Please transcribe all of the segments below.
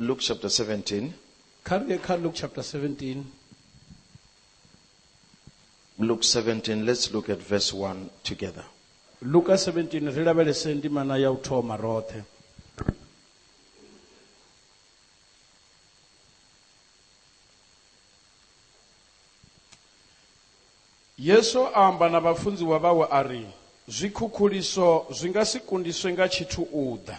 Luke chapter 17. Kha ri ye kha Luke chapter 17. Luke 17, let's look at verse 1 together. Luka 17 ri lavhelese ndimana ya u thoma roṱhe. Yesu a amba na vhafunziwa vhawe a ri, Zwikhukhuliso zwi nga si kundiswe nga tshithu u ḓa.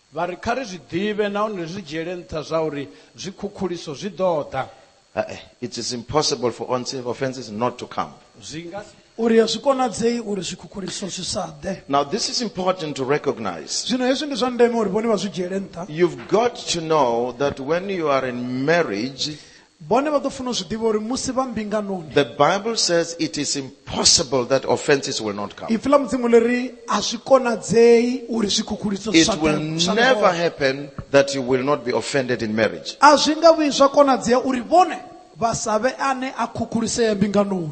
Vha ri, Kha ri zwi ḓivhe nahone ri zwi dzhiele nṱha zwauri zwikhukhuliso zwi ḓo ḓa. Hai, it is impossible for onse, offences not to come. Zwi nga si. Uri a zwi konadzei uri zwikhukhuliso zwi sa ḓe. Now this is important to recognize. Zwino hezwi ndi zwa ndeme uri vhone vha zwi dzhiele nṱha. You've got to know that when you are in marriage, Vhone vha ḓo funa u zwi ḓivha uri musi vha mbinganoni. The Bible says it is impossible that offenses will not come. Ipfi ḽa Mudzimu ḽi ri a zwi konadzei uri zwikhukhuliso zwi It sa will ḓe- zwi sa never ḓe hone. happen that you will not be offended in marriage. A zwi nga vhuyi zwa konadzea uri vhone vha sa vhe ane a khukhulisea mbinganoni.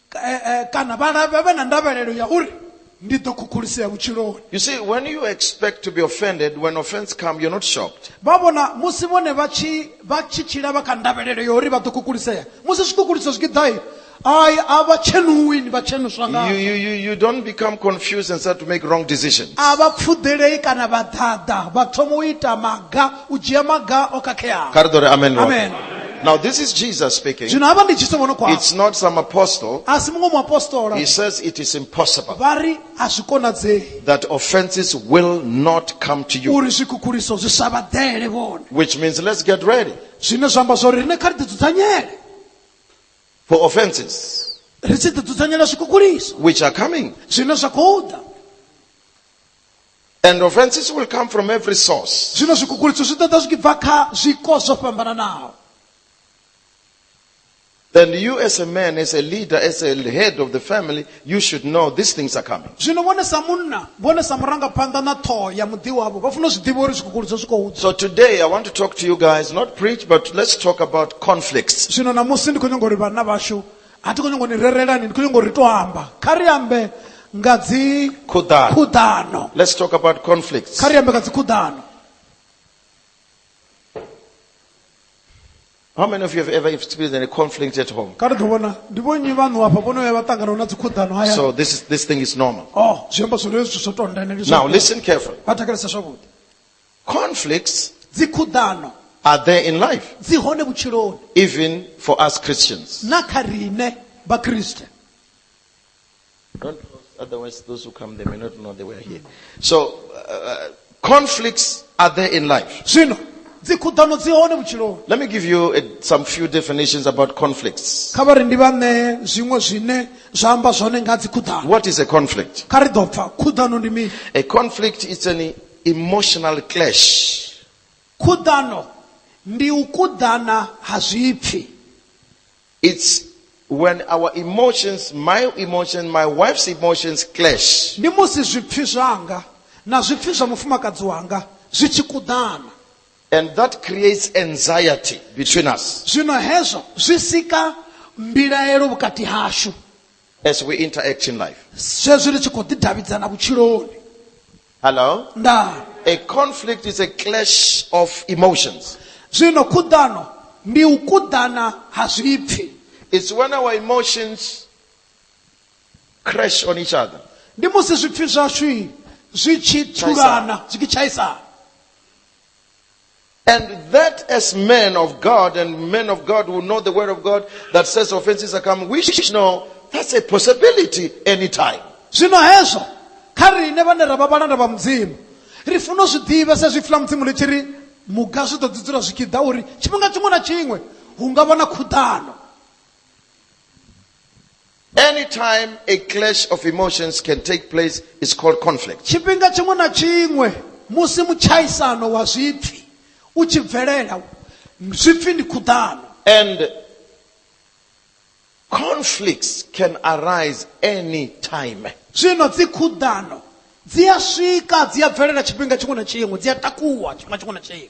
eh, eh, kana vhana vha vhe na ndavhelelo ya uri ndi ḓo khukhulisea vhutshiloni You see, when you expect to be offended, when offense comes, you're not shocked. vha vhona musi vhone vha tshi vha tshi tshila vha kha ndavhelelo ya uri vha ḓo khukhulisea musi zwikukhuliso zwi tshi ḓai ai a vha tshenuwi ni vha tshenuswa You, ngazwo you, you, you don't become confused and start to make wrong decisions. a vha pfuḓelei kana vha ḓaḓa vha thoma u ita maga u dzhia maga o khakheaho Kha ri ḓo ri amen roṱhe. Amen. Now, this is Jesus speaking. zwino hafha ndi jesu vhono khwaho It's not some apostle. a si muṅwe muapostola He says it is impossible vha ri a zwi konadzei that offenses will not come to you. uri zwikhukhuliso zwi sa vha ḓele vhone Which means let's get ready zwine zwa amba zwauri riṋe kha ri ḓidzudzanyele for offenses ri tshi ḓidzudzanyela zwikhukhuliso which are coming. zwine zwa khou ḓa And offenses will come from every source. zwino zwikukhuliso zwi ḓo ḓa zwi tshi bva kha zwiko zwo fhambananaho And you, as a man, as a leader, as a head of the family, you should know these things are coming. zwino vhone sa munna vhone sa murangaphanḓa na ṱhoho ya muḓi wavho vha funa u zwi ḓivha uri zwikukhuliso zwi khou ḓa So today I want to talk to you guys, not preach, but let's talk about conflicts. zwino ṋamusi ndi khou nyanga uri vhanna vhashu a thi khou nyongo ni rerelani ndi khou nyongo ri to amba kha ri ambe nga dzi Khuḓano. khuḓano Let's talk about conflicts. kha ri ambe nga dzi khuḓano How many of you have ever experienced any conflict at home? kha ri ḓo vhona ndi vhonnyi vhaṋu hafha vhono vhuya vha ṱanganaho na dzi khuḓano haya So this is, this thing is normal. oh zwi amba zwone zwithu zwo tonda ende ndi Now zwa- listen carefully. vha thetshelesa zwavhuḓi Conflicts dzikhuḓano are there in life, dzi hone vhutshiloni even for us Christians. na kha riṋe vhakriste Don't lose, otherwise, those who come, they may not know they were here. So, uh, conflicts are there in life. zwino dzikhuḓano dzi hone vhutshiloni Let me give you uh, some few definitions about conflicts. kha vha ri ndi vha ṋee zwiṅwe zwine zwa amba zwone nga dzikhuḓano What is a conflict? kha ri ḓo pfa khuḓano ndi mini A conflict is an emotional clash. Khuḓano ndi u kuḓana ha zwipfi. It's when our emotions, my emotions, my wife's emotions clash. Ndi musi zwipfi zwanga na zwipfi zwa mufumakadzi wanga zwi tshi kuḓana. And that creates anxiety between us. Zwino hezwo zwi sika mbilaelo vhukati hashu. As we interact in life. zwezwi ri tshi khou ḓidavhidzana vhutshiloni Hello? nda A conflict is a clash of emotions. zwino khuḓano ndi u kuḓana ha zwipfi It's when our emotions crash on each other. ndi musi zwipfi zwashu zwi tshi thulana zwi tshi tshaisana And that as men of God and men of God who know the word of God that says offenses are coming, we should know that's a possibility anytime. zwino hezwo kha riṋe vhane ra vha vhalanda vha mudzimu ri funa u zwi ḓivha sa zwi fula mudzimu ri tshi ri muga zwi ḓo ḓi dzula zwi tshi ḓa uri tshifhinga tshiṅwe na tshiṅwe hu nga vha na khuḓano Anytime a clash of emotions can take place is called conflict. tshifhinga tshiṅwe na tshiṅwe musi mutshaisano wa zwipfi u tshi bvelela zwipfi ndi khuḓano And conflicts can arise any time. zwino dzi khuḓano dzi a swika dzi a bvelela tshifhinga tshiṅwe na tshiṅwe dzi a takuwa tshifhinga tshiṅwe na tshiṅwe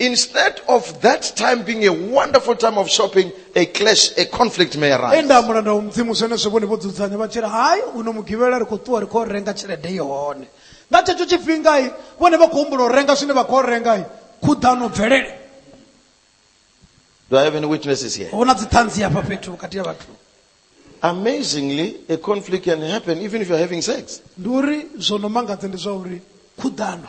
Instead of that time being a wonderful time of shopping, a clash, a conflict may arise. enda ha mulanda wa mudzimu zwenezwo vhone vho dzudzanya vha tshila hai uno mugivhela ri khou ṱuwa ri khou renga tshelede i hone nga tshetsho tshifhingai vhone vha khou humbula u renga zwine vha khou rengai khuḓano bvelele Do I have any witnesses here? hu na dziṱhanzi hafha fhethu vhukati ha vhathu Amazingly, a conflict can happen even if you're having sex. ndi uri zwo no mangadza ndi zwa uri khuḓano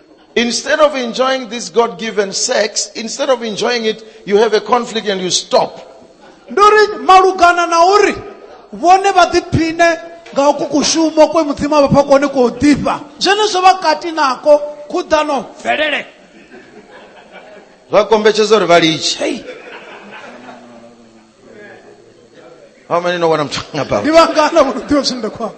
Instead of enjoying this God given sex, instead of enjoying it, you have a conflict and you stop. ndi uri malugana na uri vhone vha ḓiphine nga uku kushumo kwe mudzimu a vha fha kone kwo ḓifha zwenezwo vha kati nako khuḓano bvelele Zwa kombetshedza uri vha litshe. Hey. How many know what I'm talking about? ndi vhangana vho no ḓivha zwine nda khou amba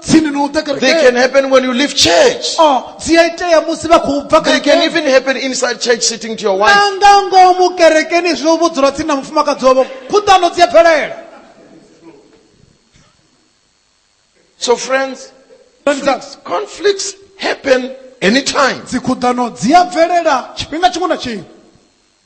tsini na u ḓa They can kerekeni happen when you leave church. Oh, dzi a itea musi vha khou bva They can kerekeni even happen inside church sitting to your wife. na nga ngomu kerekeni zwi u vhudzula tsini na mufumakadzi wavho khuḓano dzi a bvelela So, friends, Khonani dzanga, conflicts happen anytime. dzikhuḓano dzi a bvelela tshifhinga tshiṅwe na tshiṅwe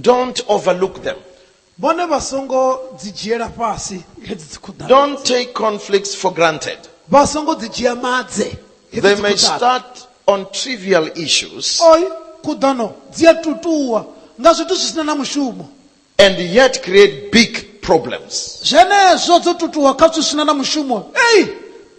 Don't overlook them. vhone vha songo dzi dzhiela fhasi hedzi dzikhuḓano Don't take conflicts for granted. vha songo dzi dzhia madze hedzi They may dzikhuḓano. start on trivial issues Oi, khuḓano dzi a tutuwa nga zwithu zwi sina na mushumo and yet create big problems. zwenezwo dzo tutuwa kha zwithu zwi sina na mushumo ei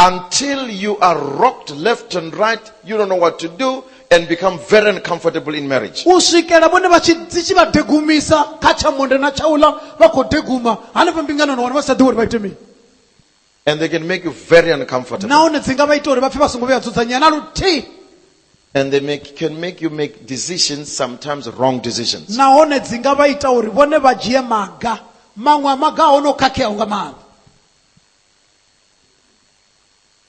Until you are rocked left and right, you don't know what to do and become very uncomfortable in marriage. u swikela vhone vha tshi dzi tshi vha degumisa kha tsha monde na tsha uḽa vha khou deguma hanefha mbingano na wana vha sa ḓi uri vha ite mini And they can make you very uncomfortable. nahone dzi nga vha ita uri vha pfe vha songo vhuya dzudzanyea na luthihi And they make, can make you make decisions, sometimes wrong decisions. nahone dzi nga vha ita uri vhone vha dzhie maga maṅwe a maga a hone o khakheaho nga maanḓa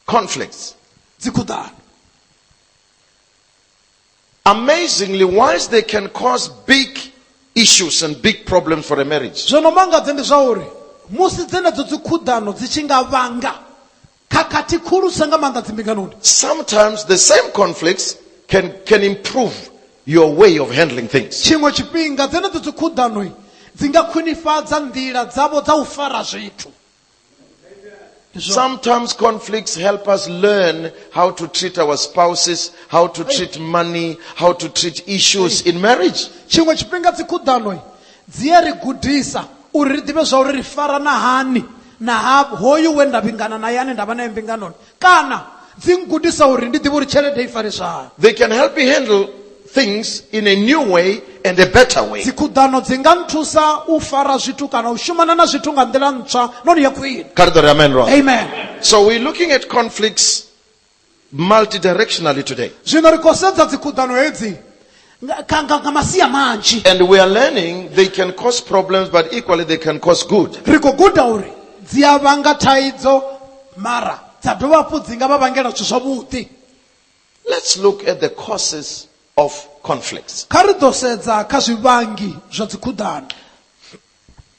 conflicts dzikhuḓano amazingly once they can cause big issues and big problems for a marriage zwo no mangadze ndi zwa uri musi dzenedzo dzikhuḓano dzi tshi nga vhanga khakhathi khulusa nga maanḓa dzimbinganoni sometimes the same conflicts can, can improve your way of handling things tshiṅwe tshifhinga dzenedzo dzikhuḓano dzi nga khwinifhadza nḓila dzavho dza u fara zwithu Sometimes conflicts help us learn how to treat our spouses, how to treat money, how to treat issues in marriage. tshiṅwe tshifhinga dzikhuḓano dzi a ri gudisa uri ri ḓivhe zwa uri ri farana hani na ha hoyu we nda vhingana naye ane nda vha naye mbinganoni kana dzi ngudisa uri ndi ḓivhe uri tshelede i fariswa hani They can help me handle things in a new way and a better way. dzikhuḓano dzi nga nthusa u fara zwithu kana u shumana na zwithu nga nḓila ntswa noni ya khwine Karitori, amen, right? amen So we're looking at conflicts multidirectionally today. zwino ri khou sedza dzikhuḓano hedzi Nga- ka- nga nga masia manzhi And we are learning they can cause problems, but equally they can cause good. ri khou guda uri dzi a vhanga thaidzo mara dza dovha hafhu dzi nga vha vhangela zwithu zwavhuḓi Let's look at the causes of conflicts. kha ri ḓo sedza kha zwivhangi zwa dzikhuḓano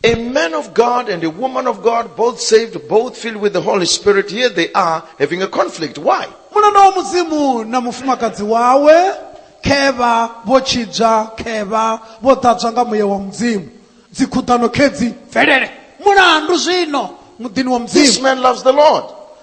A man of God and a woman of God, both saved, both filled with the Holy Spirit, here they are having a conflict. Why? muna na mudzimu na mufumakadzi wawe khevha vho tshidzwa khevha vho ḓadzwa nga muya wa mudzimu dzikhuḓano khedzi mvelele mulandu zwino muḓini wa This mudzimu man loves the Lord.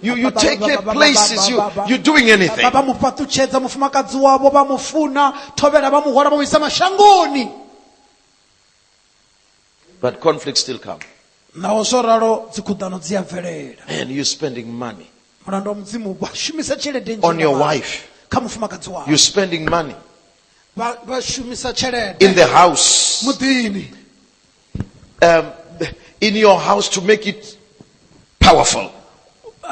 You, you take care places, you, you're doing anything. vha mu fhaṱutshedza mufumakadzi wavho vha mu funa thovhela vha mu hwala vha mu isa mashangoni But conflicts still come. naho zwo ralo dzikhuḓano dzi a bvelela Man, you're spending money. mulandu wa mudzimu vha shumisa tshelede nnzhi On your nga maanḓa wife. kha mufumakadzi wavho You're spending money vha vha shumisa tshelede in the house. muḓini um, in your house to make it powerful.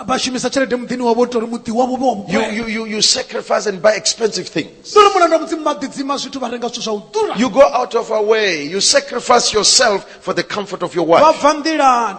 vha shumisa tshelede muḓini wavho ita uri muḓi wavho vhe wa You, vhukwela you, you, you sacrifice and buy expensive things. uri mulanda mudzimu vha ḓidzima zwithu vha renga zwithu zwa u ḓura You go out of our way. You sacrifice yourself for the comfort of your vha wife. bva nḓilani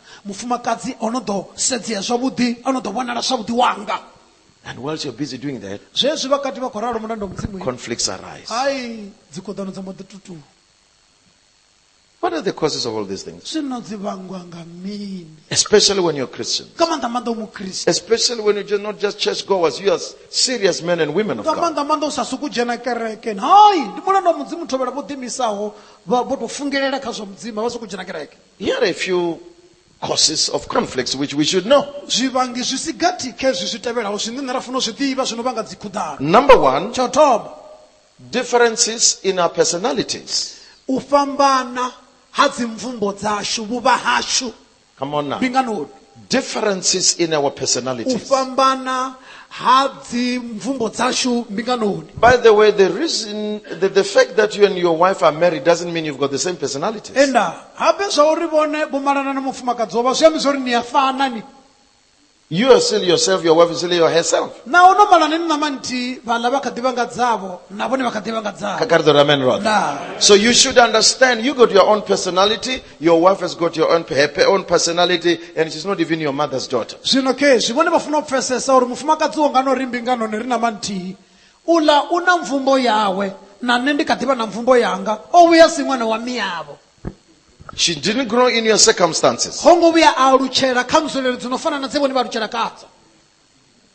mufumakadzi o no ḓo sedzea zwavhuḓi o no ḓo vhonala zwavhuḓi wanga And whilst you're busy doing that, zwezwi vhakati vha khou ralo mulanda wa mudzimu conflicts arise. hai dzikhoḓano dza mbo ḓi tutuwa What are the causes of all these things? zwino dzi vhangwa nga mini Especially when you're Christian. nga maanḓa maanḓa u mukriste Especially when you're just not just church goers, you are serious men and women of nga God. maanḓa maanḓa u sa suku dzhena kereke hai ndi mulanda wa mudzimu thovhela vho ḓimisaho vha vho tou fungelela kha zwa mudzimu a vha suku dzhena kereke Here are a few causes of conflicts which we should know. zwivhangi zwi si gathi kha izwi zwi tevhelaho zwine nṋe ra fanela u zwi ḓivha zwi no vhanga dzikhuḓano Number one, tsha u thoma differences in our personalities. u fhambana ha dzimvumbo dzashu vhuvha hashu Come on now. mbinganoni differences in our u personalities. fhambana ha dzimvumbo dzashu mbinganoni By the way, the reason, the, the fact that you and your wife are married doesn't mean you've got the same personalities. enda habe zwa uri vhone vho malana na mufumakadzi wovha zwi ambi zwa uri ni a fana ni You are still yourself, your wife is still your herself. naho no malana ni ṋama nthihi vhaḽa vha kha ḓivha nga dzavho na vhone vha kha ḓivha nga dzavho Kakari the ramen rod. ndaa So you should understand you got your own personality Your wife has got your own, her pe- own personality and she's not even your mother's daughter. zwino khezwi vhone vha funa u pfesesa uri mufumakadzi wo ngano ri mbinganoni ri na manthihi uḽa u na mvumbo yawe na nṋe ndi kha ḓivha na mvumbo yanga o vhuya si ṅwana wa miyavho She didn't grow in your circumstances. ho ngo vhuya a alutshela kha nzulelo dzi no fana na dze vhone vha alutshela khadzo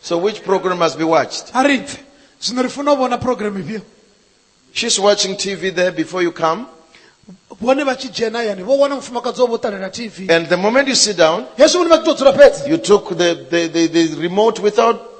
So which program must be watched? a ri pfe zwino ri funa u vhona programu ifhio She's watching TV there before you come. vhone vha tshi dzhena yani vho wana mufumakadzi wavho ṱalela tv And the moment you sit down, hezwi vhone vha tshi tou dzula fhedzi you took the, the, the, the remote without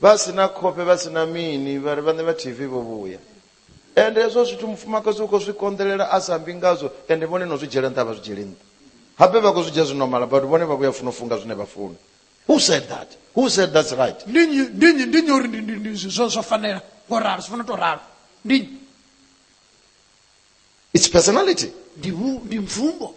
vha si na khofhe vha si na mini vhari vhaṋe vha tv vho vhuya ende hezwo zwithu mufumakadzi u khou zwi konḓelela a sa mbi ngazwo ende vhone no zwi dzhiela nṱha vha zwi dzhieli nṱha habe vha khou zwi dzhia zwi nomala but vhone vha vhuya funa u funga zwine vha funa who said that who said that's right ndi nnyi ndi nnyi ndi nnyi uri ndi- ndi- ndi- zwi- zwo zwo fanela ngo ralo zwi funa to ralo ndi nnyi? it's personality ndi vhu- ndi mvumbo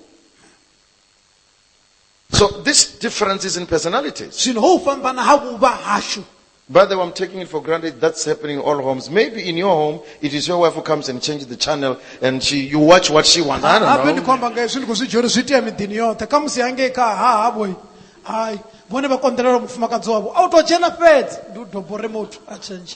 So this difference is in personalities. zwino ho u fhambana ha vhuvha hashu By the way, I'm taking it for granted that's happening in all homes. Maybe in your home, it is your wife who comes and changes the channel and she, you watch what she wants. I habe ndi don't khou know. amba nga hezwi ndi khou zwi dzhia uri zwi itea miḓini yoṱhe kha musi hangei kha hahavhoi hai vhone vha konḓelela mufumakadzi wavho a u tou dzhena fhedzi ndi u doba uri muthu a tshentshe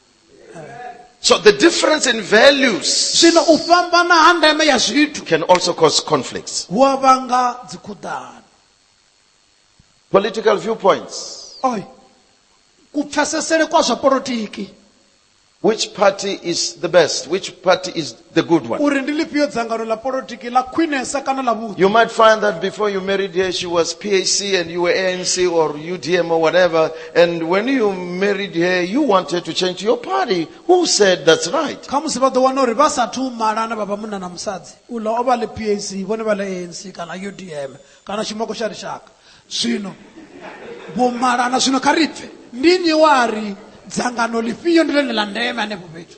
So the difference in values zwino u fhambana ha ndeme ya zwithu can also cause conflicts. hu a vhanga dzikhuḓano Political viewpoints. oi kupfesesele kwa zwa polotiki Which party is the best? Which party is the good one. uri ndi ḽifhio dzangano ḽa polotiki ḽa khwinesa kana ḽa vhuḓi You might find that before you married her, she was PAC and you were ANC or UDM or whatever. And when you married her, you wanted to change to your party. Who said that's right? kha musi vha ḓo wana uri vha sathu malana vha vha munna na musadzi uḽa o vha ḽe pac vhone vha ḽe anc kana udm kana tshimoko tsha lushaka zwino vho malana zwino kha ri pfe ndi nnyi wa ri dzangano ḽifhio ndi ḽone ḽa ndeme hanefho fhethu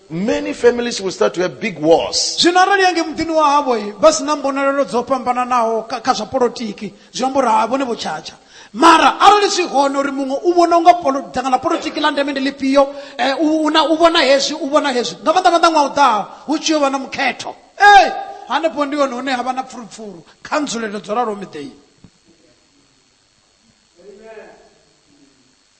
many families will start to have big wars. zwino arali yange muḓini wa havho i vha si na mbonalelo dzo fhambananaho kha kha zwa polotiki zwi amba uri ha vhone vho tshatsha mara arali zwi hone uri muṅwe u vhona unga polo- dzangano ḽa polotiki ḽa ndeme ndi ḽifhio eh, u una- u vhona hezwi u vhona hezwi nga maanḓa maanḓa ṅwaha u ḓaho hu tshi yo vha na mukhetho ee hanefho ndi hone hune ha vha na pfurupfuru kha nzulelo dzo raloho miḓeini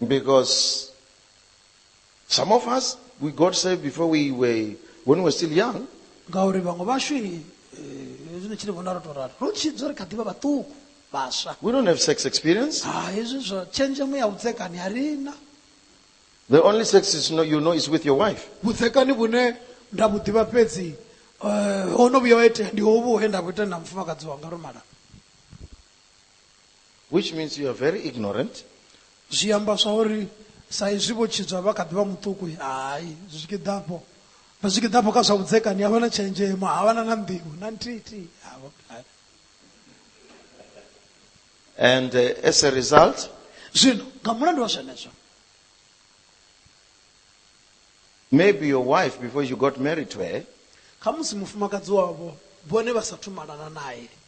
Okay. Because some of us, we got saved before we were, when we were still young. ngauri vhaṅwe vashu eh, hezwi ni tshi ri vhona ro tou rali ro tshidzwa ri kha ḓivha vhaṱuku vhaswa We don't have sex experience. ha hezwi zwa tshenzhemo ya vhudzekani a ri na The only sex is no, you know is with your wife. vhudzekani vhune nda vhu ḓivha fhedzi eh, ho no vhuya wa itea ndi hovhu he nda vhu ita na mufumakadzi wanga ro mala which means you are very ignorant zwi amba zwa uri sa izwi vho tshidzwa vha kha ḓi vha muṱuku hai zwi tshi ḓi ḓafho vha zwi tshi ḓi ḓafho kha zwa vhudzekani havha na tshenzhemo havha na na nḓivho na nthihi havho and uh, as a result zwino nga mulandu wa zwenezwo maybe your wife before you got married to her khamusi mufumakadzi wavho vhone vha sa thumalana naye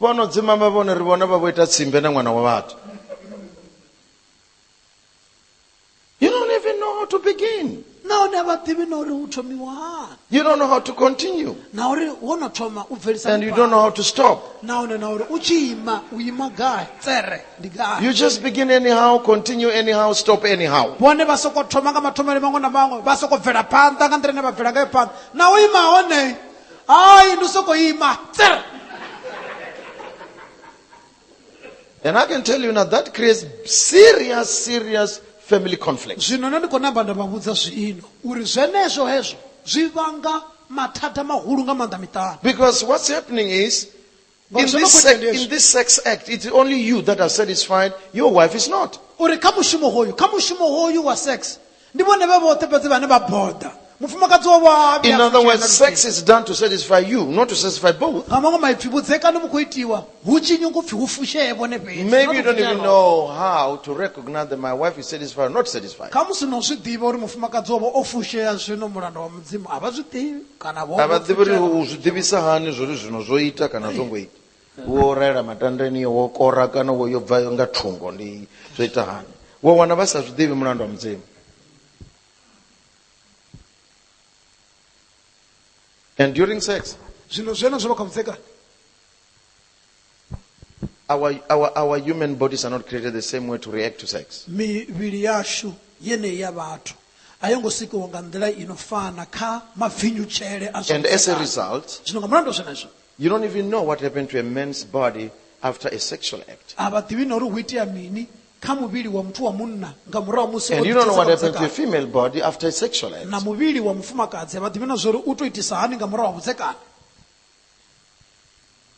vhono dzimama vhone ri vhona vha vho ita tsimbe na ṅwana wa vhathu you don't even know how to begin nahone a vha ḓivhi na uri hu thomiwa hani you don't know how to continue na uri wo no thoma u bvelisa and you don't know how to stop nahone na uri u tshi ima u ima gai tsere ndi gai you just begin anyhow continue anyhow stop anyhow vhone vha soko thoma nga mathomele maṅwe na maṅwe vha soko bvela phanḓa nga nḓila ine vha bvela ngayo phanḓa na u ima hone hayi ndi u sokou ima tsir And I can tell you now that creates serious, serious family conflict. zwino nṋe ndi khou namba nda vha vhudza zwiino uri zwenezwo hezwo zwi vhanga mathada mahulu nga maanḓa miṱani Because what's happening is In this, in this sex act, it's only you that are satisfied. Your wife is not. uri kha mushumo hoyu kha mushumo hoyu wa sex ndi vhone vha vhoṱhe fhedzi vhane vha boda mufumakadzi wa vha In other words, sex is done to satisfy you, not to satisfy both. nga maṅwe maipfi vhudzekani vhu khou itiwa hu tshi nyungu pfi hu fushee vhone fhedzi Maybe you don't even know how to recognize that my wife is satisfied or not satisfied. kha musi no zwi ḓivha uri mufumakadzi wavho o fushea zwino mulanda wa mudzimu a vha zwi ḓivhi kana vho a vha ḓivhi uri u zwi ḓivhisa hani zwori zwino zwo ita kana zwo ngo ita wo raela matandani wo kora kana wo yo bva nga thungo ndi zwo ita hani wo wana vha sa zwi ḓivhi mulandu wa mudzimu and during sex zwino zwenezwo vha kha vhudzekani Our, our, our human bodies are not created the same way to react to sex. mivhili yashu yeneyi ya vhathu a yo ngo sikiwa nga nḓila ino fana kha mapfinyutshele a zwa And as a vhudzekani. result, zwino nga mulandu wa zwenezwo you don't even know what happened to a man's body after a sexual act. a vha ḓivhi na uri hu itea mini kha muvhili wa muthu wa munna nga murahu ha musi o And you don't know what ḓitshedza happened to a vhudzekani. female body after a sexual act. na muvhili wa mufumakadzi a vha ḓivhi na zwa uri u to itisa hani nga murahu ha vhudzekani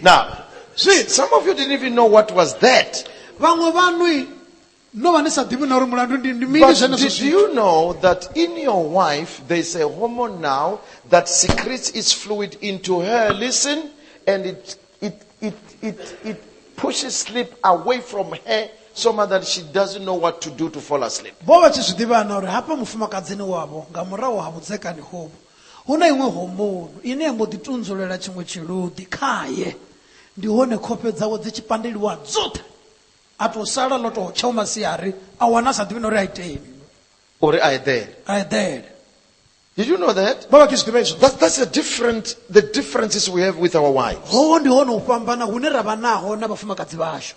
Now, see, some of you didn't even know what was that. vhaṅwe vhanui no vha ni sa ḓivhi na uri mulandu ndi ndi mini But zwenezwo did zwithu you know that in your wife there's a hormone now that secretes its fluid into her? Listen, and it it it it, it pushes sleep away from her so much that she doesn't know what to do to fall asleep. vho vha tshi zwi ḓivha na uri hafha mufumakadzini wavho nga murahu ha vhudzekani hovhu Hu na iṅwe hombounu ine ya mbo ḓi tunzulela tshiṅwe tshiluḓi khae, ndi hone khofhe dzawe dzi tshi pandeliwa dzoṱhe, a tou sala ḽo tou tshau masiari, a wana a sa ḓivhi na uri a iteni. Uri a eḓele. A eḓele. Did you know that? Vha vha tshi zwi ḓivha izwo. That's, that's the, different, the differences we have with our wives. Hoho ndi hone u fhambana hune ra vha naho na vhafumakadzi vhashu.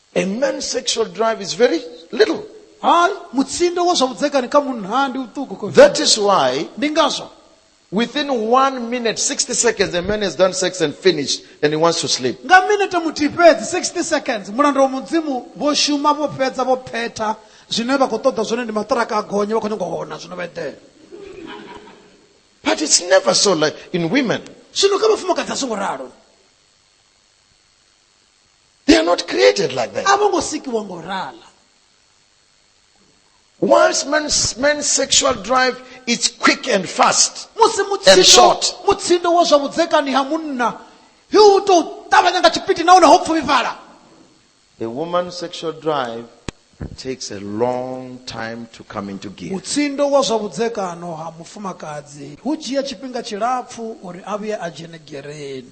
A man's sexual drive is very little. hayi mutsindo wa swa vudzekani ka munhu ha ndi wutuku ko That is why ndi ngazwo within one minute, 60 seconds, a man has done sex and finished and he wants to sleep. nga minete muthihi fhedzi 60 seconds mulanda wa mudzimu vho shuma vho fhedza vho phetha zwine vha khou ṱoḓa zwone ndi maṱiraka a gonye vha khou nyanga u hona zwino vha eḓela But it's never so like in women. zwino kha vhafumakadzi a songo ralo They are not created like that. a vho ngo sikiwa ngo rala Once man's, man's sexual drive is quick and fast, musi And mutsindo short. mutsindo wa zwa vhudzekani ha munna hi u tou ṱavhanya nga tshipiti nahone ho pfuvhifhala a woman's sexual drive takes a long time to come into gear. mutsindo wa zwa vhudzekano ha mufumakadzi hu dzhia tshifhinga tshilapfu uri a vhuye a dzhene gereni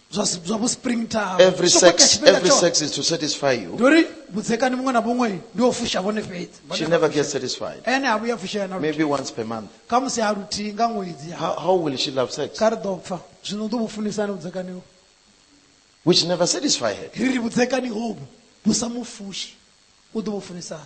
zwa si- zwa vho spring tower Every Zwo khakha sex, tshifhinga every tshoṱhe. sex is to satisfy you. ndi uri vhudzekani muṅwe na vhuṅwe ndi o fusha vhone fhedzi Vhone She vha never fusha. gets satisfied. ene ha vhuya fushea na Maybe luthihi once per month. kha musi ha luthihi nga ṅwedzi How, how will she love sex? kha ri ḓo pfa zwino u ḓo vhu funisani vhudzekani hovhu Which never satisfy her. ri ri vhudzekani hovhu vhu sa mu fushi u ḓo vhu funisani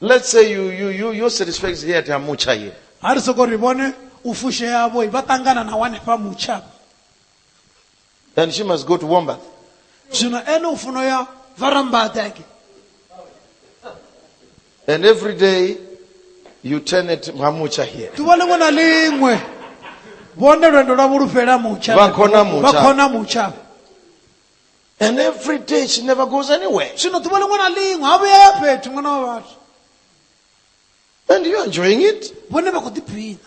Let's say you, you, you, your satisfaction is here at Amucha here. ha ri soko ri vone u fuxeavoi va tangana na wane fa mucha And she must go to Wombat. zwino ene u funo ya va rambateke And every day you turn at Mamucha here. ḓuvha ḽiṅwe na ḽiṅwe vhone lwendo lwa vhulufhela mutsha Vha khona mutsha. vha khona mutsha And every day she never goes anywhere. zwino ḓuvha liṅwe na liṅwe ha vhuya ya fhethu ṅwana wa vhathu And you're enjoying it. vhone vha khou ḓiphina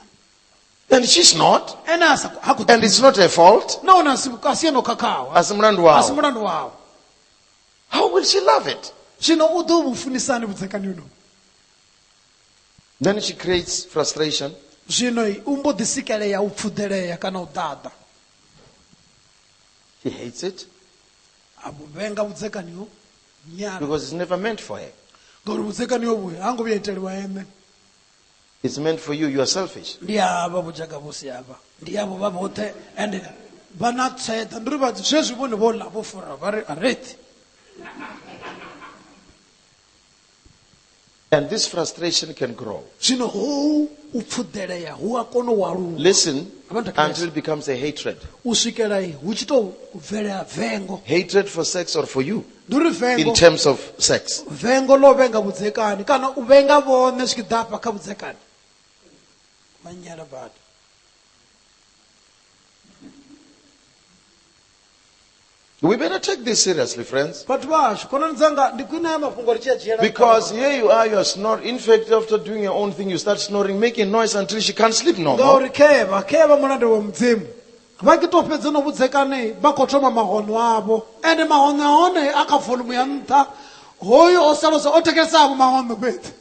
And she's not. ene a sa khou- ha khou And it's not her fault. nahone a si a si eno khakhawa Asi mulandu a si wawe. mulandu wawo How will she love it? zwino u ḓo vhu funisani vhudzekani uno Then she creates frustration. zwino i, u mbo ḓi sikelea u pfuḓelea kana u ḓaḓa He hates it a vhu vhenga vhudzekani ho nyala because it's never meant for her. ngauri vhudzekani ho vhuya ha ngo vhuya iteliwa ene It's meant for you. You are selfish. ndi avha vhudzhaka vhu si avha ndi avho vha vhoṱhe ende vha na tseḓa ndi uri vha zwezwi vhone vho ḽa vho fura vha ri a rethi And this frustration can grow. zwino hou u pfuḓelea hu a kona u aluwa Listen Abantu until akazi. it becomes a hatred. u swikela i, hu tshi tou bvelea vengo Hatred for sex or for you ndi uri vengo in terms of sex. vengo ḽo vhenga vhudzekani kana u vhenga vhone zwi tshi ḓa afha kha vhudzekani manyala badi We better take this seriously, friends. vhathu vhashu khonani dzanga ndi khwine haya mafhungo ri tshi a dzhiela Because nṱha. here you are, you are snoring. In fact, after doing your own thing, you start snoring, making noise until she can't sleep no more. ngauri khevha khevha mulanda wa mudzimu vha ke to fhedza no vhudzekane vha khou thoma mahono avho ende mahono a hone a kha volumu ya nṱha hoyo o salosa o thekesavho mahono fhedzi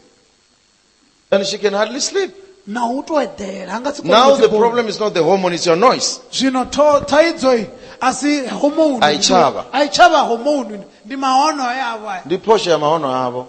And she can hardly sleep. na u to eḓela a nga si kone Now u the dzibona. problem is not the hormone, it's your noise. zwino tho- thaidzo i a si homoni A i tshavha. a i tshavha homoni ndi mahono e a vha Ndi phosho ya mahono avo.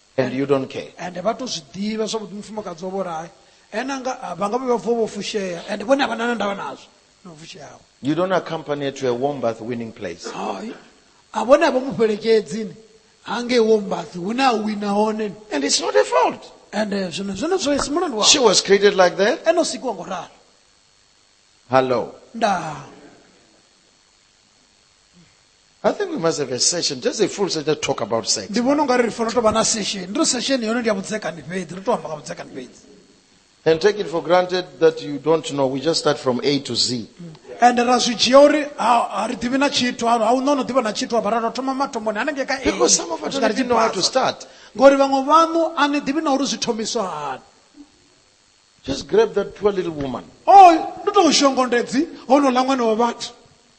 and you don't care. ende vha tou zwi ḓivha zwavhuḓi mufumakadzi wavho uri hai ene anga ah, vha nga vhe vha vuwa vho fushea ende vhone a vha na na ndavha nazwo no fushea awe You don't accompany her to a warm bath winning place. hai a vhone a vha mu fhelekedzi ni hangei wombathi hune a wina hone ni And it's not her fault. ende zwino zwino zwo si mulandu wawe She was created like that. ene o sikiwa ngo ralo Hello. ndaa I think we must have a session, just a full session, just talk about sex. ndi vhona ungari ri fanela u tou vha na sesheni ndi ri sesheni yono ndi ya vhudzekani fhedzi ri tou amba nga vhudzekani fhedzi And take it for granted that you don't know. We just start from A to Z. and ra zwi dzhia uri ha ha ri ḓivhi na tshithu ha ha u no no ḓivha na tshithu hafha ra tou thoma mathomoni hanengei ka A, Because some of u us swika don't ri even know how to tshipasa. start. ngori vhaṅwe vhaṋu a ni ḓivhi na uri zwi thomiswa hani Just grab that poor little woman. o ndi tou shongondedzi honola ṅwana wa vhathu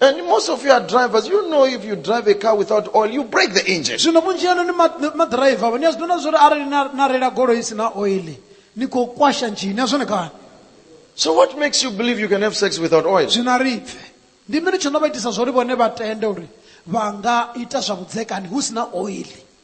And most of you are drivers. You know if you drive a car without oil, you break the engine. zwino vhunzhi ano ni ma- ni maḓiraiva vha ni a zwi ḓona zwori arali na na reila goloi i si na oili ni khou kwasha ndzhini a zwone kani So what makes you believe you can have sex without oil? zwino a ri pfe ndi mini tsho no vha itisa zwori vhone vha tende uri vha nga ita zwa vhudzekani hu si na oili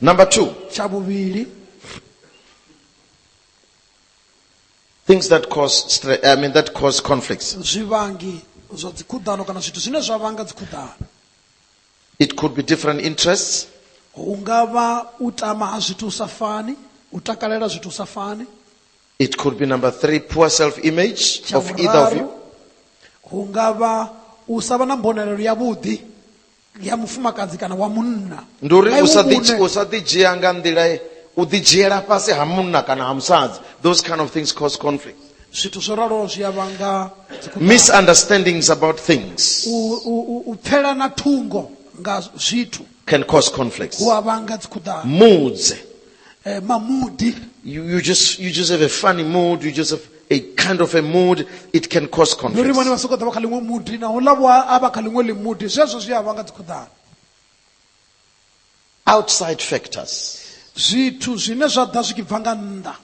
Number two, tsha vhuvhili things that cause stre- I mean that cause conflicts. zwivangi zwa dzikhuḓano kana zwithu zwine zwa vhanga dzikhuḓano It could be different interests, hu nga vha u tama ha zwithu u sa fani u takalela zwithu u sa fani it could be number three, poor self-image tsha of either of vhuraru you. hu nga vha u sa vha na mbonalelo yavhuḓi ya mufumakadzi kana wa munna ndi uri Nga u iwe sa ḓi- muṋe. u sa ḓidzhia nga nḓila ye- u ḓidzhiela fhasi ha munna kana ha musadzi those kind of things cause conflict zwithu zwo raloho zwi a vhanga dzikhonani. misunderstandings about things U- u- u- u pfela na thungo nga zwithu can cause conflicts hu a vhanga dzikhuḓano mudze eh, mamudi You, you, just, you just have a funny mood. You just have a kind of a mood. It can cause ndi uri vhone vha conflict. sokou ḓa vha kha ḽiṅwe mudi na uḽa vho a vha kha ḽiṅwe ḽimudi zwezwo zwi a vha nga dzikhuḓana Outside factors. zwithu zwine zwa ḓa zwi tshi bva nga nnḓa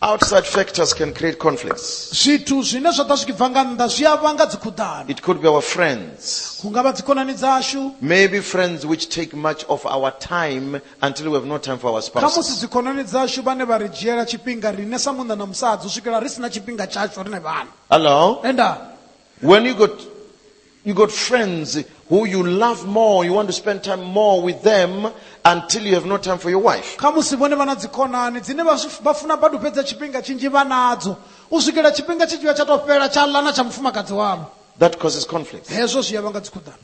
Outside factors can create conflicts. zwithu zwine zwa ḓa zwi tshi bva nga nnḓa zwi a vhanga dzikhuḓano It could be our friends. hu nga vha dzikhonani dzashu Maybe friends which take much of our time until we have no time for our khamusi spouses. dzikhonani dzashu vhane vha ri dzhiela tshifhinga riṋe sa munna na musadzi u swikela ri si na tshifhinga tshashu riṋe vhana Hello? enda When you got You got friends who you love more, you want to spend time more with them until you have no time for your wife. khamusi vhone vha na dzikhonani dzine vha zwi- vha funa badi u fhedza tshifhinga tshinzhi vha nadzo u swikela tshifhinga tshi tshi vha tsha tou fhela tsha ḽa na tsha mufumakadzi wavho That causes conflict. hezwo zwi ya vhanga dzikhuḓano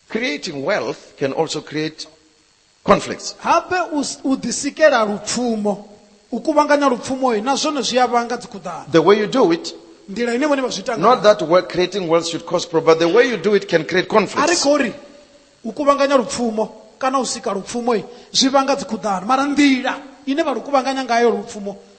Creating wealth can also create conflicts. Habe u s- u ḓisikela lupfumo, u kuvhanganya lupfumo na zwone zwi a vhanga dzikhuḓano. The way you do it, Nḓila ine vhone vha zwi ita not ngayo. that we're creating wealth should cause problems, but the way you do it can create A ri conflicts. khou ri u kuvhanganya lupfumo kana u sika lupfumo zwi vhanga dzikhuḓano, mara nḓila ine vha lu kuvhanganya ngayo lupfumo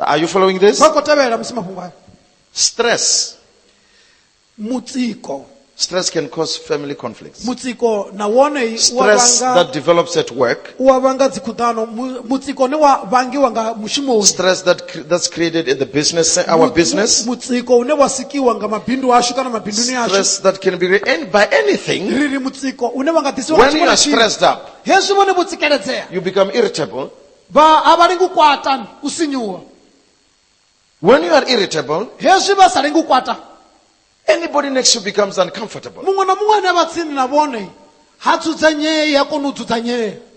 Are you following this? vha khou tevhela musi mafhungo ayo Stress. mutsiko Stress can cause family conflicts. mutsiko na wone u wa Stress vhanga that develops at work. u wa vhanga dzikhuḓano Mu- mutsiko une wa vhangiwa nga mushumoni Stress that cre- that's created at the business, our Mu- business. mu- mutsiko une wa sikiwa nga mabindu ashu kana mabinduni ashu Stress that can be re- any- by anything. ri ri mutsiko une wa nga ḓisiwa nga When you tshiṅwe are na tshiṅwe. stressed up, hezwi vhone vho tsikeledzea you become irritable. vha a vha lengi u kwata u sinyuwa When you are irritable, hezwi vha sa lengi u kwata anybody next to you becomes uncomfortable. muṅwe na muṅwe ane a vha tsini na vhone ha dzudzanyei ha koni u dzudzanyea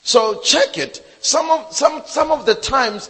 So check it. Some of, some, some of the times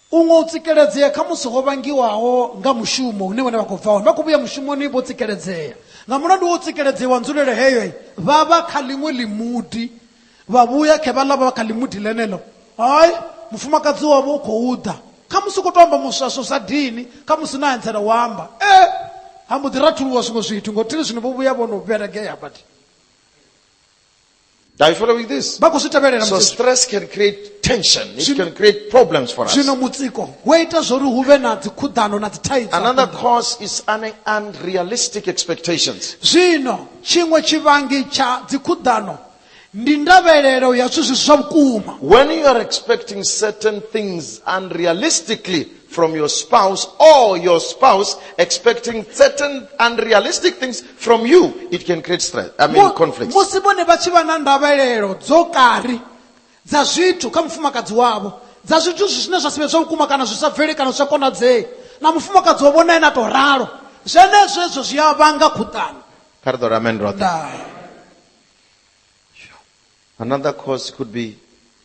U nga u tsikeledzea khamusi ho vhangiwaho nga mushumo hune vhone vha khou bva hone. Vha khou vhuya mushumoni vho tsikeledzea. Nga mulandu wa u tsikeledzea wa nzulele heyo, vha vha kha ḽiṅwe ḽimudi, vha vhuya khe vhaḽa vha vha kha ḽimudi ḽeneḽo. Hai, mufumakadzi wavho u khou ḓa. Khamusi u khou tou amba muswaswo sa dini, khamusi na anzela u amba. E! Ha mbo ḓi rathuluwa zwiṅwe zwithu, nga u thili zwino vho vhuya vho no vhelegea badi. Are you following this? vha khou zwi tevhelela So musi- stress can create tension. It Zwino- can create problems for us. zwino mutsiko wo ita zwori hu vhe na dzikhuḓano na dzithaidzo Another cause is un- unrealistic expectations. zwino tshiṅwe tshivhangi tsha dzikhuḓano ndi ndavhelelo ya zwithu zwi si zwa vhukuma When you are expecting certain things unrealistically, from your spouse or your spouse expecting certain unrealistic things from you, it can create stress. I mean, Mu- conflicts. musi vhone vha tshi vha na ndavhelelo dzo kari dza zwithu kha mufumakadzi wavho dza zwithu zwi- zwine zwa si vhe zwa vhukuma kana zwi sa bveli kana zwi sa konadzei na mufumakadzi wavho na ene a tou ralo zwenezwo ezwo zwi a vhanga khuṱano Kha ri ḓo ri amen roṱhe. ndaa Another cause could be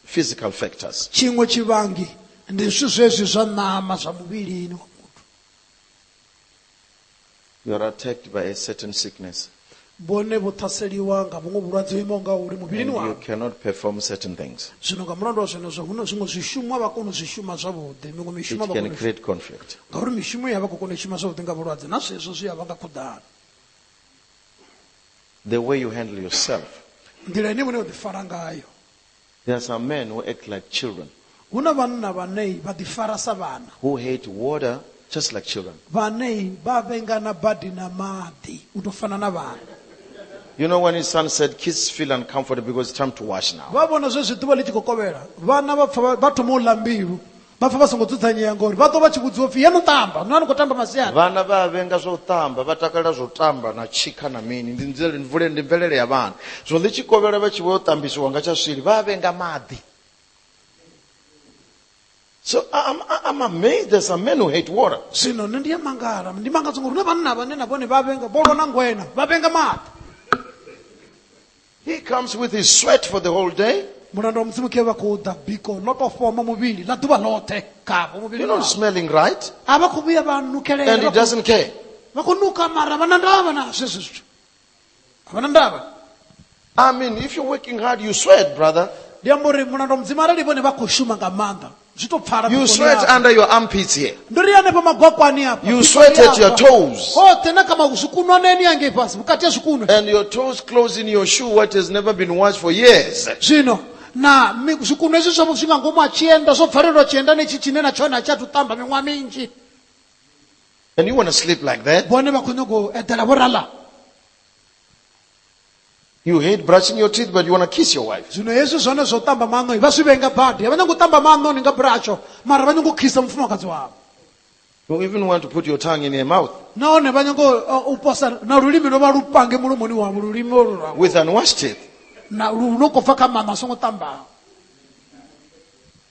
physical factors. tshiṅwe tshivhangi ndi zwithu zwezwi zwa ṋama zwa muvhilini wa muthu You are attacked by a certain sickness vhone vho ṱhaseliwa nga vhuṅwe vhulwadze ho imaho nga uri and muvhilini you wavho cannot perform certain things. zwino nga mulandu wa zwenezwo hu na zwiṅwe zwishumo a vha koni u zwi shuma zwavhuḓi miṅwe It mishumo a vha can koni u shuma create conflict. ngauri mishumo ya vha khou kona u shuma zwavhuḓi nga vhulwadze na zwezwo zwi a vha nga khuḓano The way you handle yourself. nḓila ine vhone vha ḓifara ngayo There are some men who act like children, hu na vhanna vhanei vha ḓifara sa vhana who hate water just like children. vhanei vha vhengana badi na maḓi u tou fana na vhana You know, when his son said, kids feel uncomfortable because it's time to wash now. vha vhona zwezwi ḓuvha ḽi tshi khou kovhela vhana vha pfa vha- vha thoma u ḽa mbilu vha pfa vha songo dzudzanyea ngori vha ḓo vha tshi vhudziwa upfi ya no tamba no a ni khou tamba masiari vhana vha a vhenga zwa u tamba vha takalela zwa u tamba na tshikha na mini ndi nzele- ndi vhule- ndi mvelele ya vhana zwino ḽi tshi kovhela vha tshi vho tambisiwa nga tsha swili vha a vhenga maḓi so I- I'm, I- I'm amazed there's some men who hate water zwino nṋe ndi ya mangala ndi mangadzwa ngori huna vhanna vhane na vhone vha vhenga vho lwa na ngwena vha vhenga maḓi He comes with his sweat for the whole day. mulanda wa mudzimu ke vha khou ḓa biko ḽo tou fhoma muvhili ḽa ḓuvha ḽoṱhe khavho You're muvhili not wavho. smelling right. a vha khou vhuya vha And he nukelela doesn't care. vha khou nuka mara vha na ndavha na zwezwo zwithu a vha na ndavha I mean, if you're working hard, you sweat, brother. ndi amba uri mulanda wa mudzimu arali vhone vha khou shuma nga maanḓa zwi to pfala You vhukoni sweat hafha. under your armpits here. ndo ri hanefha magwakwani hafha You vhukoni sweat at your hafha. toes. hoṱhe na kha ma- zwikunwaneni hangei fhasi vhukati ha zwikunwe And your toes close in your shoe, what has never been washed for years. zwino na mi- zwikunwe zwi zwa- zwi nga ngomu ha tshienda zwo bvalelwa tshiendani itshi tshine na tshone a tshi athu tamba miṅwaha minzhi And you want to sleep like that? vhone vha khou nyanga u eḓela vho rala You hate brushing your teeth, but you want to kiss your wife. zwino hezwi zwone zwo ṱamba maṋo vha zwi vhenga badi a vha nyanga u ṱamba maṋo ni nga bratsho mara vha nyanga u khisa mufumakadzi wavho You even want to put your tongue in her mouth nahone vha nyanga u- uh, u posa na lulimi lwo vha lu pange mulomoni wavho lulimi olu lwavho with unwashed teeth. na lu no khou bva kha maṋo a songo ṱambaho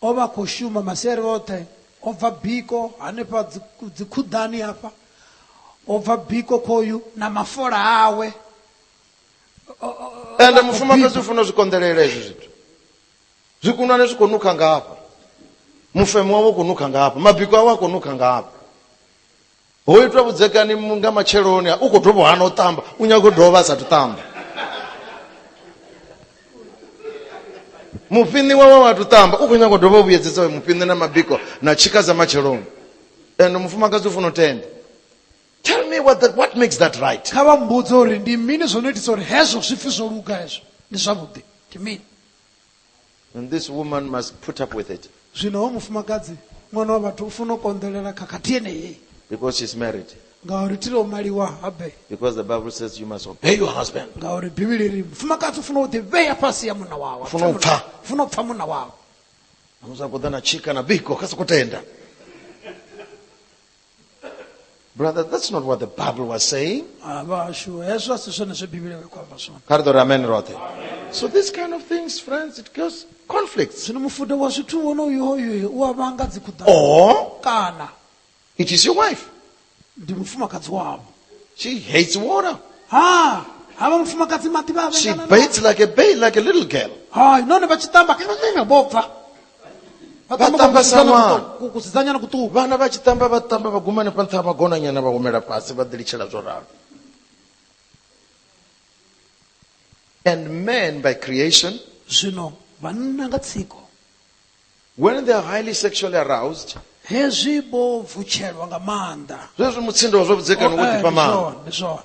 O vha a khou shuma masiari oṱhe, o bva biko hanefha dzikhuḓani hafha, o bva biko khoyu na mafola awe. Ende mufumakadzi u funa u zwi konḓelela hezwi zwithu. Zwikunwane zwi khou nukha ngafha. Mufemo wawe u khou nukha ngafha. Mabiko awe a khou nukha ngafha. ho itwa vhudzekani nga matsheloni u khou dovha hana u ṱamba u nyaga u dovha a sathu ṱamba mufhiṋi wawe wa tu ṱamba u khou nyaga u dovha u vhuyedzedza mufhiṋi na mabiko na tshika dza matsheloni and mufumakadzi u funa u tenda tell me what, the, what makes that right kha vha mbudze uri ndi mini zwo no itisa uri hezwo zwipfi zwo luga hezwo ndi zwavhuḓi ndi mini And this woman must put up with it zwino hoyu mufumakadzi ṅwana wa vhathu u funa u konḓelela khakhathi yeneyi because she's married. ngauri thi ḽo maliwa habe Because the Bible says you must obey your husband. ngauri bivhili ri mufumakadzi u funa u ḓivhea fhasi ya munna wawe U funa u pfa. U funa u pfa munna wawe Musa kuḓa na tshika na biko kha soko tenda. Brother, that's not what the Bible was saying. Ah, vhashu hezwo a si zwone zwe bivhili ya khou amba zwone Kha ri ḓo ri amen roṱhe. So these kind of things, friends, it causes conflicts. zwino mufuda wa zwithu wonoyo hoyo u a vhanga dzikhuḓa Or kana it is your wife. ndi mufumakadzi wavho She hates water. ha ha vha mufumakadzi maḓi vha a She vhengana nao. bathes like a babe, like a little girl. hai nahone vha tshi tamba vho bva Vha tamba tamba kusidzana sa ṅwana. kuṱuku- ku- kusidzanyana kuṱuku vhana vha tshi tamba vha tamba vha guma hanefha nṱha ha magonanyana vha humela fhasi vha ḓilitshela zwo ralo and man by creation zwino vhanna nga tsiko when they are highly sexually aroused hezwi vho vutshelwa nga maanḓa zwezwi mutsindo wa zwa vhudzekani wo ḓifha maanḓa Ndi zwone, ndi zwone.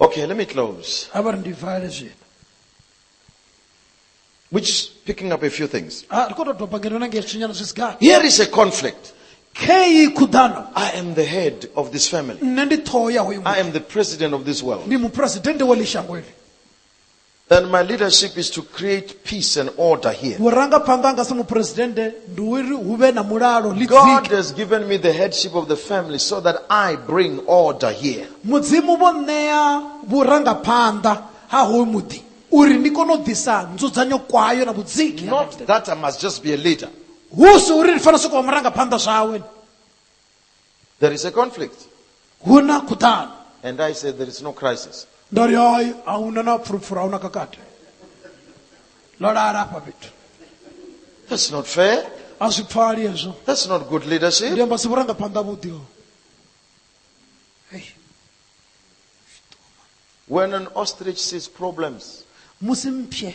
Okay, let me close. a vha ri ndi vale zwino Which is picking up a few things. Ah, ri khou tou doba ngeno na ngei tshinyana zwi si gathi Here is a conflict. kheyi khuḓano I am the head of this family. nṋe ndi ṱhoho ya hoyu I muṱa am the president of this world. ndi muphuresidennde wa ḽi shango ili Then my leadership is to create peace and order here. vhurangaphanḓa hanga sa muphuresidennde ndi uri hu vhe na mulalo ḽi God dzike has given me the headship of the family so that I bring order here. mudzimu vho ṋea vhurangaphanḓa ha hoyu muḓi uri ndi kone u ḓisa nzudzanyo kwayo na vhudziki Not that I must just be a leader. hu si uri ndi fanela sokou vha murangaphanḓa zwawe There is a conflict. hu na khuḓano And I said, There is no crisis. ndo ri hoi a hu na na pfurupfuru a hu na kakate ḽo lala afha fhethu That's not fair. a zwi pfali hezwo That's not good ndi leadership. amba si vhurangaphanḓa vhuḓi ho When an ostrich sees problems, musi mphye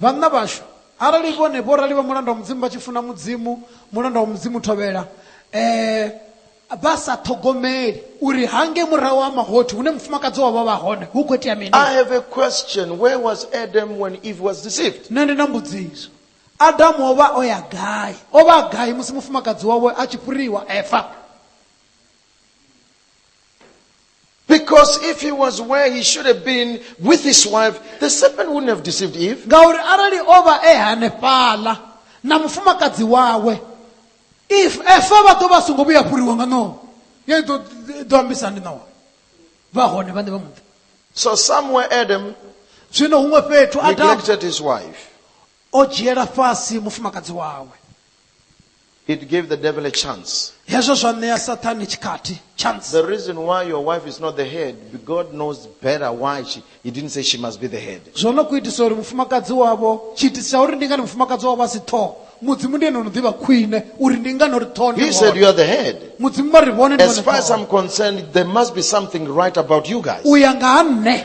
Vhanna vhashu, arali vhone vhorali vha mulanda wa Mudzimu vha tshi funa Mudzimu, mulanda wa Mudzimu u thovhela, eh, vha sa ṱhogomeli uri hangei murahu ha mahothi hune mufumakadzi wavho vha hone hu khou itea mini. I have a question, where was Adam when Eve was deceived? Nṋe ndi na mbudziso, Adamu o vha o ya gai? O vha a gai musi mufumakadzi wawe a tshi fhuriwa, Eva? Because if he was where he should have been with his wife, the serpent wouldn't have deceived Eve. ngauri arali o vha e hanefhaḽa na mufumakadzi wawe if efa vha ḓo vha songo vhuya fhuriwa nga ṋowa ya ḓo ḓo ambisa ndi ṋowa vha hone vhaṋe vha muḓi So somewhere Adam zwino huṅwe fhethu adamu neglected his wife. o dzhiela fhasi mufumakadzi wawe It gave the devil a chance. hezwo zwa ṋea sathane tshikhathi chance The reason why your wife is not the head, God knows better why she, He didn't say she must be the head. zwo no ku itisa uri mufumakadzi wavho tshiitisi tsha uri ndi ngani mufumakadzi wavho a si ṱhoho mudzimu ndi ene ono ḓivha khwine uri ndi ngani uri ṱhoho ndi He said, You hone are the head. mudzimu vha ri vhone ndi As vhone far as ṱhoho I'm concerned, there must be something right about you guys. u ya nga ha nṋe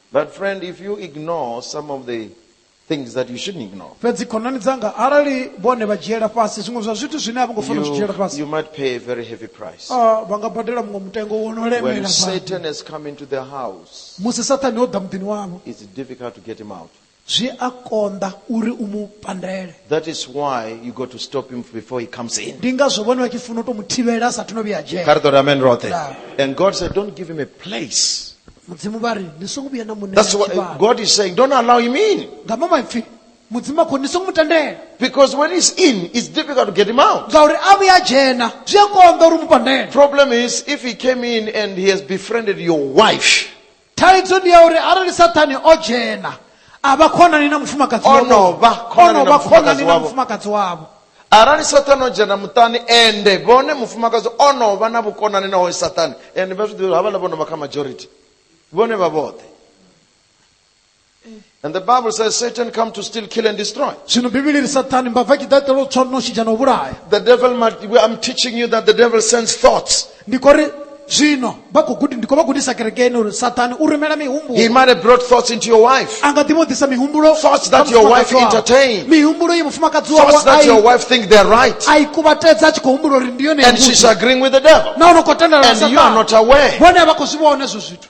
But friend, if you ignore some of the things that you shouldn't ignore, fhedzi khonani dzanga arali vhone vha dzhiela fhasi zwiṅwe zwa zwithu zwine a vho ngo fanela u zwi dzhiela you, fhasi you might pay a very heavy price. ah, vha nga badela muṅwe mutengo wo no When lemela badi. Satan has come into their house, musi sathane o ḓa muḓini wavho it's difficult to get him out. Zwi a konḓa uri u mu pandele. That is why you got to stop him before he comes in. Ndi ngazwo vhone vha tshi funa u tou mu thivhela a sathu no vhuya dzhena. Kha ri ḓo ri amen roṱhe. Yeah. And God said, don't give him a place. Mudzimu vha ri ni songo vhuya na mu ṋea That's what tshivhalo. God is saying. Don't allow him in. Nga maṅwe maipfi Mudzimu a khou ri ni songo mu tendela Because when he's in, it's difficult to get him out. ngauri a vhuya a dzhena zwi a konḓa uri u mu pandele. Problem is, if he came in and he has befriended your wife, thaidzo ndi ya uri arali sathane o dzhena a vha khonani na mufumakadzi O wavho. no vha khonani na O no vha mufumakadzi khonani na wavho. mufumakadzi wavho arali sathane o dzhena muṱani ende vhone mufumakadzi o no vha na vhukonani na hoyo sathane ende vha zwi ḓivha uri havhala vho no vha kha majority vhone vha vhoṱhe And the Bible says Satan come to steal, kill, and destroy. zwino bivhili ri sathane mbava i tshi ḓa itela u tswa no shidzha na u vhulaya The devil, might, I'm teaching you that the devil sends thoughts. ndi khou ri zwino vha khou gudi ndi khou vha gudisa kerekeni uri sathane u rumela He mihumbulo might have brought thoughts into your wife. a nga ḓi vho ḓisa mihumbulo Thoughts that kha your wife mufumakadzi wawe. entertain. mihumbulo ye mufumakadzi wawe Thoughts that a your i- wife think they're right. a i kuvhatedza a tshi khou humbula uri ndi yone And she's yavhuḓi. agreeing with the devil. nahone u khou tendelana And you are not aware. vhone a vha khou zwi vhona hezwo zwithu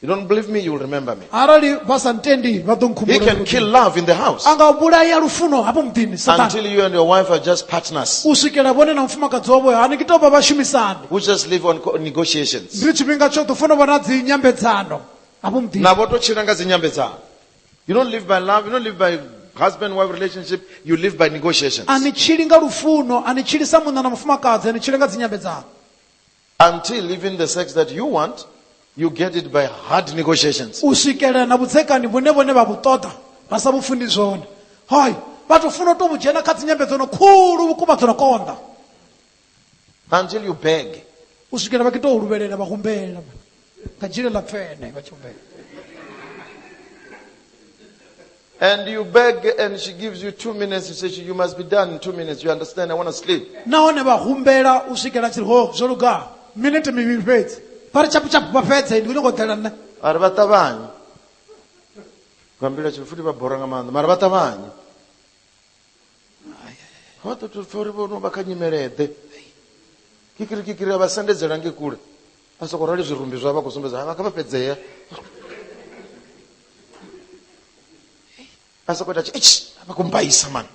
You don't believe me, you'll remember me. arali vha sa ntendi vha ḓo He nkhumbula can uri kill love in the house a nga vhulaya lufuno hafho muḓini satana until you and your wife are just partners u swikela vhone na mufumakadzi wavho hani ki tou vha vhashumisani who just live on co- negotiations. ndi tshifhinga tsho ḓo funa vha na dzi nyambedzano hafho muḓini Na voto chila nga zinyambedzano. You don't live by love, you don't live by husband wife relationship, you live by negotiations. a ni tshili nga lufuno a ni tshili sa munna na mufumakadzi a ni tshili nga dzinyambedzano Until even the sex that you want, you get it by hard negotiations. u swikelela na vhudzekani vhune vhone vha vhu ṱoḓa vha sa vhu funi zwone hoi vha tou funa u tou vhu dzhena kha dzinyambedzano khulu vhukuma dzo no konḓa Until you beg. u swikelela vha kito u luvhelela vha humbela Ka jiri la fɛɛnɛ ka chumbe. And you beg, and she gives you two minutes. You say, You must be done in two minutes. You understand? I want to sleep. nahone vha humbela u swikela tshiri ho zwo luga minete mivhili fhedzi vha ri chapu chapu vha fhedze ndi nyongo ḓela nṋe A ri vha ṱavhanye. Nga mbilu tshi futhi vha bora nga maanḓa, mara vha ṱavhanye. Vha ḓo tou pfa uri vho no vha kha nyimele ḓe. Kikiri kikiri a vha sendedzela nge kule. vha soko rali zwirumbi zwa vha khou sumbedza vha kha vha fhedzea vha soko ita tshi vha khou mbaisa mani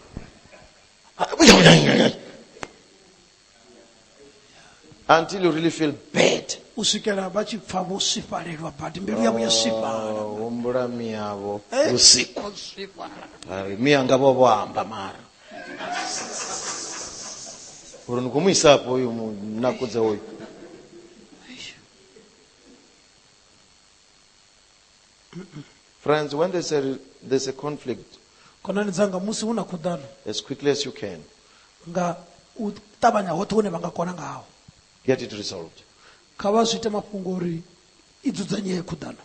until you really feel bad u swikela vha tshi pfa vho swifhalelwa badi mbilu yavho ya swifhala humbula miyavho vhusiku Vha ri, miya nga vho vho amba mara uri ni khou mu isapo uyu munakudza uyu friends when there's a, there's a conflict khonani dzanga musi hu na khuḓano as quickly as you can nga u ṱavhanya hoṱhe hune vha nga kona ngaho get it resolved kha vha zwi ite mafhungo uri i dzudzanyee khuḓano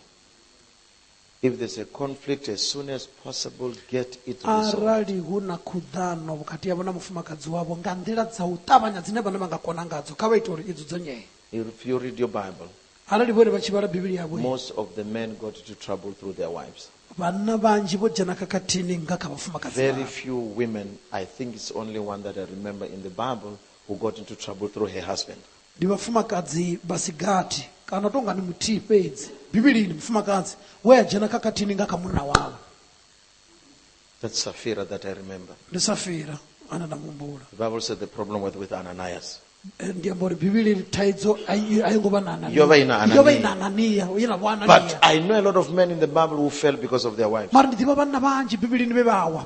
If there's a conflict, as soon as possible, get it resolved. arali hu na khuḓano vhukati havho na mufumakadzi wavho nga nḓila dza u ṱavhanya dzine vhone vha nga kona ngadzo kha vha ite uri i dzudzanyee If you read your Bible, arali vhone vha tshi vhala bivhili yavho most of the men got into trouble through their wives. vhanna vhanzhi vho dzhena khakhathini nga kha vhafumakadzi Very vhavho. few women, I think it's only one that I remember in the Bible, who got into trouble through her husband. Ndi vhafumakadzi vha si gathi kana u tou nga ndi muthihi fhedzi. Bivhilini, mufumakadzi we a dzhena khakhathini nga kha munna wawe. That's Sapphira that I remember. Ndi Safira ane nda mu humbula. The Bible said the problem was with Ananias. Eh, Ndi amba uri Bivhilini thaidzo a i a i ngo vha na Anania. Yo vha i na Anania. Yo vha i na Anania, ye na vho But Anania. I know a lot of men in the Bible who fell because of their wives. Mara ndi ḓivha vhanna vhanzhi Bivhilini vhe vha wa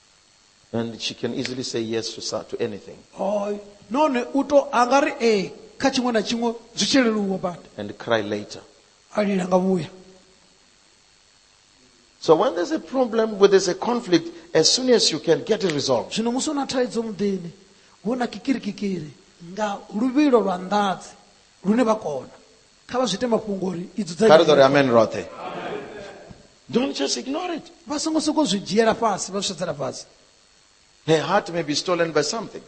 And she can easily say yes to, so- to anything. Oh, none u to a nga ri ee kha tshiṅwe na tshiṅwe zwi tshi leluwa badi and cry later. a lila nga vhuya So when there's a problem, when there's a conflict, as soon as you can get it resolved. zwino musi u na thaidzo muḓini hu na kikirikikiri nga luvhilo lwa nḓadzi lune vha kona kha vha zwi ite mafhungo uri i kha ri ḓo ri amen roṱhe don't just ignore it vha songo sokou zwi dzhiela fhasi vha zwi sedzela fhasi her heart may be stolen by something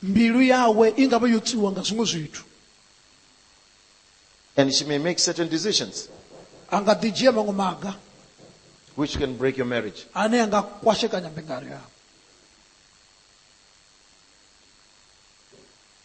mbilu yawe i nga vha yo tswiwa nga zwiṅwe zwithu and she may make certain decisions a nga ḓi dzhia maṅwe maga which can break your marriage ane a nga kwashekanya mbingano yavho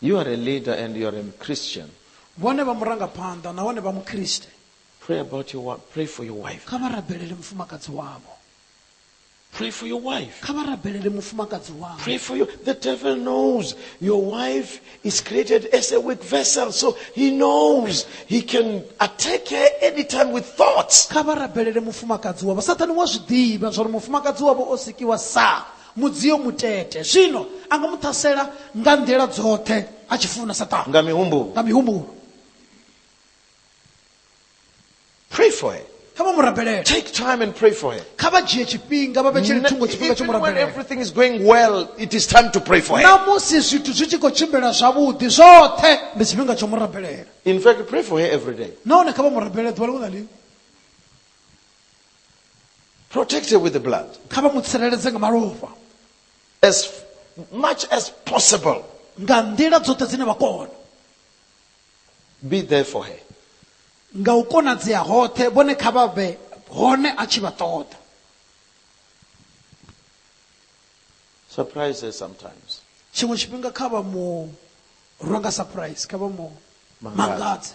You are a leader and you are a Christian. Vhone vha murangaphanḓa nahone vha Mukriste. Pray about your wife. Pray for your wife. Kha vha rabelele mufumakadzi wavho. Pray for your wife. Kha vha rabelele mufumakadzi wavho. Pray for you. The devil knows your wife is created as a weak vessel, so he knows he can attack her anytime with thoughts. Kha vha rabelele mufumakadzi wavho. Sathane wa zwi ḓivha zwa uri mufumakadzi wavho o sikiwa sa Mudzio mutete. Zwino a nga mu ṱhasela nga nḓila dzoṱhe a tshi funa, Saṱane. Nga mihumbulo. Nga mihumbulo. Pray for her. Kha vha mu rabelele. Take time and pray for her. Kha vha dzhie tshifhinga vha vhetshele thungo tshifhinga tsho mu Even when rabelele. everything is going well, it is time to pray for her. Na musi zwithu zwi tshi khou tshimbila zwavhuḓi zwoṱhe ndi tshifhinga tsho mu rabelela. In fact, pray for her every day. Nahone kha vha mu rabelele ḓuvha ḽiṅwe na ḽiṅwe. Protected with the blood. kha vha mu tsireledze nga malofha As f- much as possible. nga nḓila dzoṱhe dzine vha kona Be there for her. nga u konadzea hoṱhe vhone kha vha vhe hone a tshi vha ṱoḓa Surprise her sometimes. tshiṅwe tshifhinga kha vha mu rwa nga surprise kha vha mu Mangadze. mangadze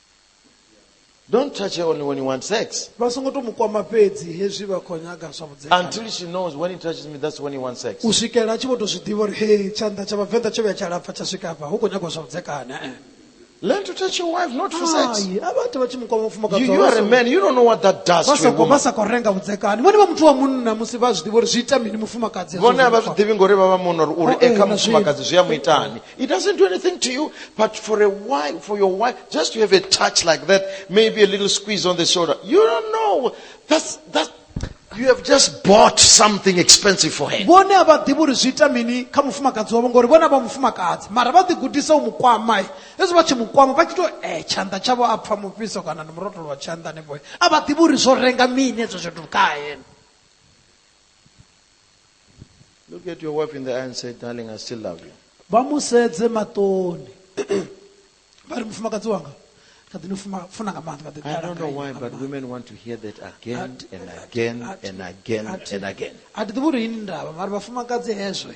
Don't touch her only when you want sex. vha songo to mu kwama fhedzi hezwi vha khou nyaga zwa vhudzekani Until she knows when he touches me, that's when he wants sex. u swikela a tshi vho to zwi ḓivha uri he tshanḓa tsha vhavenḓa tsho vhuya tsha lapfa tsha swika hafha hu khou nyagwa zwa vhudzekani eh. Learn to touch your wife, not for sex. ai a vha ite vha tshi mu kwama mufumakadzi You, you wavho. are a man, you don't know what that does vha to a sa khou- woman. vha sa khou renga vhudzekani vhone vha muthu wa munna musi vha zwi ḓivha uri zwi ita mini mufumakadzi hezwo vhone a vha zwi zwi ḓivhi ngori vha vha muno uri uri Oh, eh, e kha na zwi- mufumakadzi zwi a mu itani It doesn't do anything to you, but for a wife, for your wife, just to have a touch like that, maybe a little squeeze on the shoulder. You don't know. That's that you have just bought something expensive for her. vhone a vha ḓivhi uri zwi ita mini kha mufumakadzi wavho ngori vhone vha mufumakadzi mara vha ḓigudisa u mu kwama hezwi vha tshi mu kwama vha tshi to e tshanḓa tshavho a pfha mufhiso kana ndi murotolo wa tshanḓa hanefho a vha ḓivhi uri zwo renga mini hezwo zwithu kha yena Look at your wife in the eye and say, Darling, I still love you. vha mu sedze maṱoni vha ri mufumakadzi wanga kha ḓi ni fuma- funa nga maanḓa kha ḓi I don't know why, but women want to hear that again and again and again and again. a thi ḓivhi uri yini ndavha mara vhafumakadzi hezwe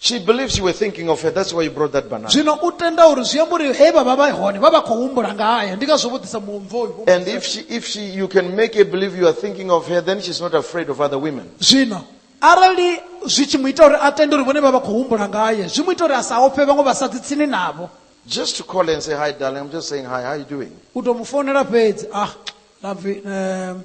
She believes you were thinking of her. That's why you brought that banana. zwino u tenda uri zwi amba uri he vha vha vha hone vha vha khou humbula ngayo ndi ngazwo vho ḓisa muomvoyu And if she, if she, you can make her believe you are thinking of her, then she's not afraid of other women. zwino arali zwi tshi mu ita uri a tende uri vhone vha vha khou humbula ngaye zwi mu ita uri a sa ofhe vhaṅwe vhasadzi tsini navho Just to call her and say, hi, darling, I'm just saying hi, how you doing? u tou mu founela fhedzi ah love you, um,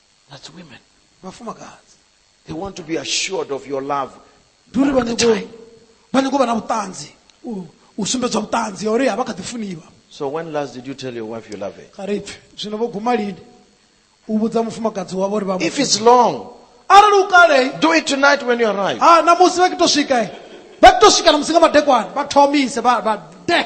That's women. vhafumakadzi They want to be assured of your love. ndi uri vha At the nyingo time. vha nyingo vha na vhuṱanzi u- u sumbedzwa vhuṱanzi ha uri a vha kha ḓi funiwa So when last did you tell your wife you love her? kha ri pfe zwino vho guma lini u vhudza mufumakadzi wavho uri vha mu- If it's long, arali u kalei do it tonight when you arrive. ha na musi vha kito swika eh, vha kito swika na musi nga madekwana vha thomise vha vha de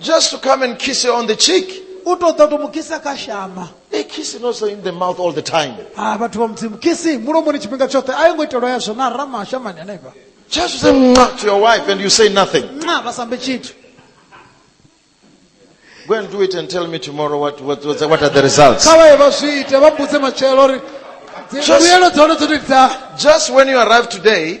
Just to come and kiss her on the cheek. u to ḓa u to mu kisa kha shama A kiss is also in the mouth all the time. a vhathu vha mudzimu kisi mulomoni tshifhinga tshoṱhe a yo ngo itelwa yazwo na rama shamani hanefha Just to say "Mwah" to your wife and you say nothing. nxa vha sambe tshithu Go and do it and tell me tomorrow what, what, what, what are the results. kha vhaye vha zwi ite vha mbudze matshelo uri dzi- Just- mbuyelo dza hone dzo tou dza Just when you arrive today,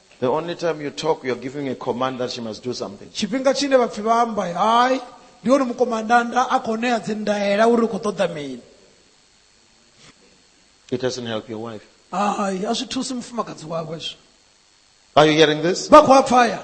The only time you talk, you're giving a command that she must do something. tshifhinga tshine vhapfi vha amba hai ndi hone mukomandanda a khou ṋea dzindaela uri u khou ṱoḓa mini It doesn't help your wife. hai a zwi thusi mufumakadzi wawe zwo Are you hearing this? vha khou a pfaya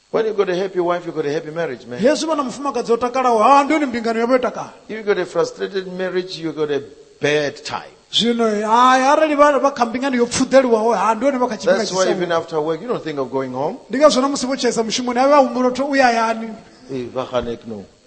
When you've got a happy wife, you've got a happy marriage, man. yesu vha na mufumakadzi o takalaho ha ndi yone mbingano yavho yo takala If you've got a frustrated marriage, you've got a bad time. zwino hai arali vha vha kha mbingano yo pfuḓeliwaho ha ndi yone vha kha tshifhinga That's why even tshisau after work, you don't think of going home. ndi ngazwo na musi vho tshaisa mushumoni avhe a humbula u to uya hayani Eh, vha khanek no.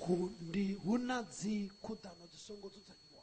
khu ndi hu na dzikhuḓano dzi songo dzudzanyiwa